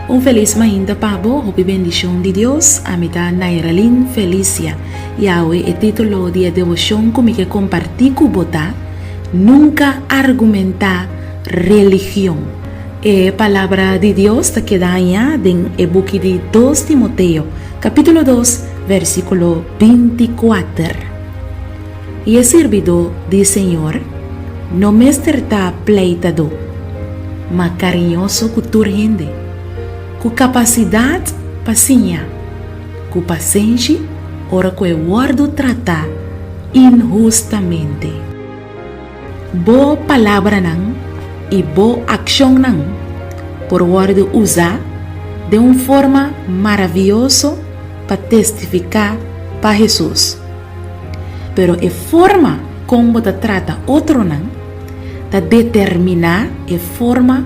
Un felis mainta pa bo, hopi bendishon di Dios. Ami ta Nairalin Felicia, i awe e titulo di e devoshon ku mi ke kompartí ku bo ta, Nunka argumentá. Religion. E Palabra di Dios ta keda aña den e buki di Dos Timoteo, kapítulo dos, vèrsikulo binti kuater, I e sirbidó di Señor no mester ta pleitadó, ma kariñoso ku tur hende, ku kapasidat pa siña, ku pasenshi ora ku e wòrdu tratá inhustamente. Bo palabranan i bo akshonnan por wòrdu usá den un forma maravioso pa testifiká pa Hesus. Pero e forma kon bo ta trata otronan ta determiná e forma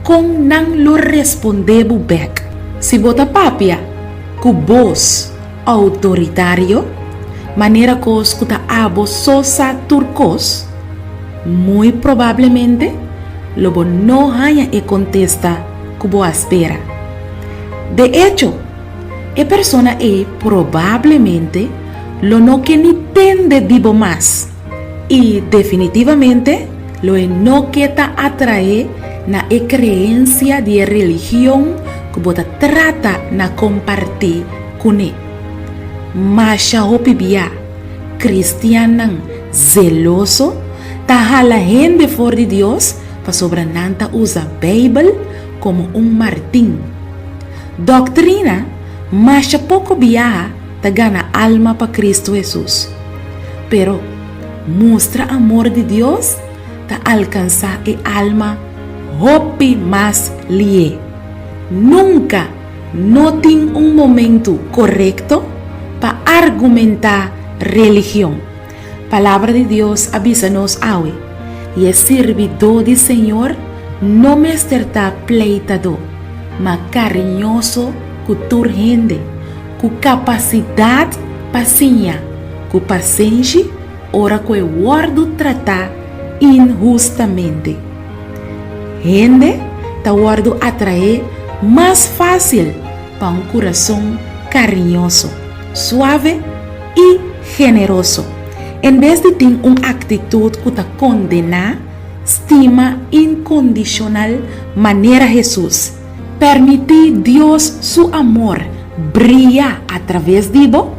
kon nan lo respondé bo bèk. Si bo ta papia ku bos Autoritario? Manera kos ku ta abo so sa tur kos? Muy probablemente lo bo no haña e kontesta ku bo a spera. De echo, e persona ei probablemente lo no ke ni tende di bo mas. I definitivamente lo e no ke ta atraé na e kreensia di e religion ku bo ta trata na kompartí kuné. Masha hopi bia, kristiannan zeloso ta hala hende for di Dios pasobra nan ta usa Beibel komo un martin. Doktrina masha poko biaha. ta gana alma pa Kristu Hesus. Pero, mustra amor di Dios ta alkansá e alma hopi mas lié. Nunka no tin un momentu korekto pa argumentá religion. Palabra di Dios a bisa nos awe, Y e sirbidó di Señor no mester ta pleitadó, ma kariñoso ku tur hende, ku kapasidat pa siña, ku pasenshi ora ku e wòrdu tratá inhustamente. Hende ta wòrdu atraé mas fásil pa un kurason kariñoso, suave i generoso, en bes di tin un aktitut ku ta kondená, stima inkondishonal manera Hesus. Permití Dios su amor bria atraves di bo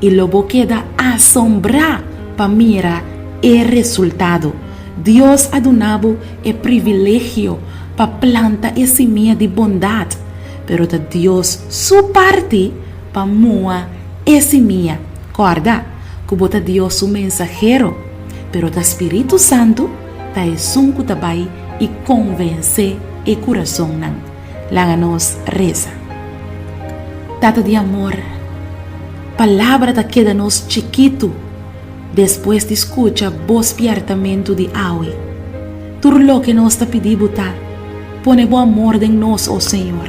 i lo bo keda asombrá pa mira e resultado. Dios a duna bo e privilegio pa planta e simia di bondat. pero ta Dios su parti pa mua e simia. Kòrda ku bo ta Dios su mensahero, pero ta Spiritu Santu ta esun ku ta bai i konvensé e kurasonnan. Laga nos resa. Tata di amor, palabra ta keda nos chikitu. Despues di skucha bo spièrtamentu di awe, tur loke nos ta pidi Bo ta, Pone Bo amor den nos, o Señor.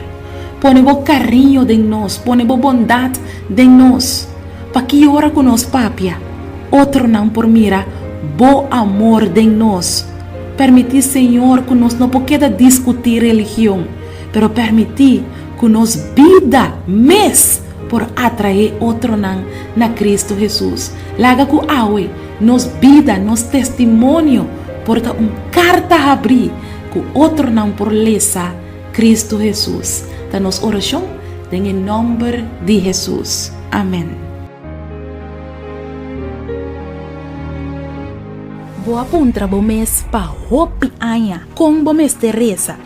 Pone Bo kariño den nos, pone Bo bondat den nos, pa ki ora ku nos papia, otronan por mira Bo amor den nos. Pèrmití, Señor, ku nos no por keda diskutí religion, pero pèrmití ku nos bida mes por atraé otronan na Kristu Hesus. Laga ku awe nos bida, nos testimonio por ta un karta habrí ku otronan por lesa Kristu Hesus, ta nos orashon den e nòmber di Hesus. Amèn. Bo a puntra bo mes pa hopi aña kon bo mester resa.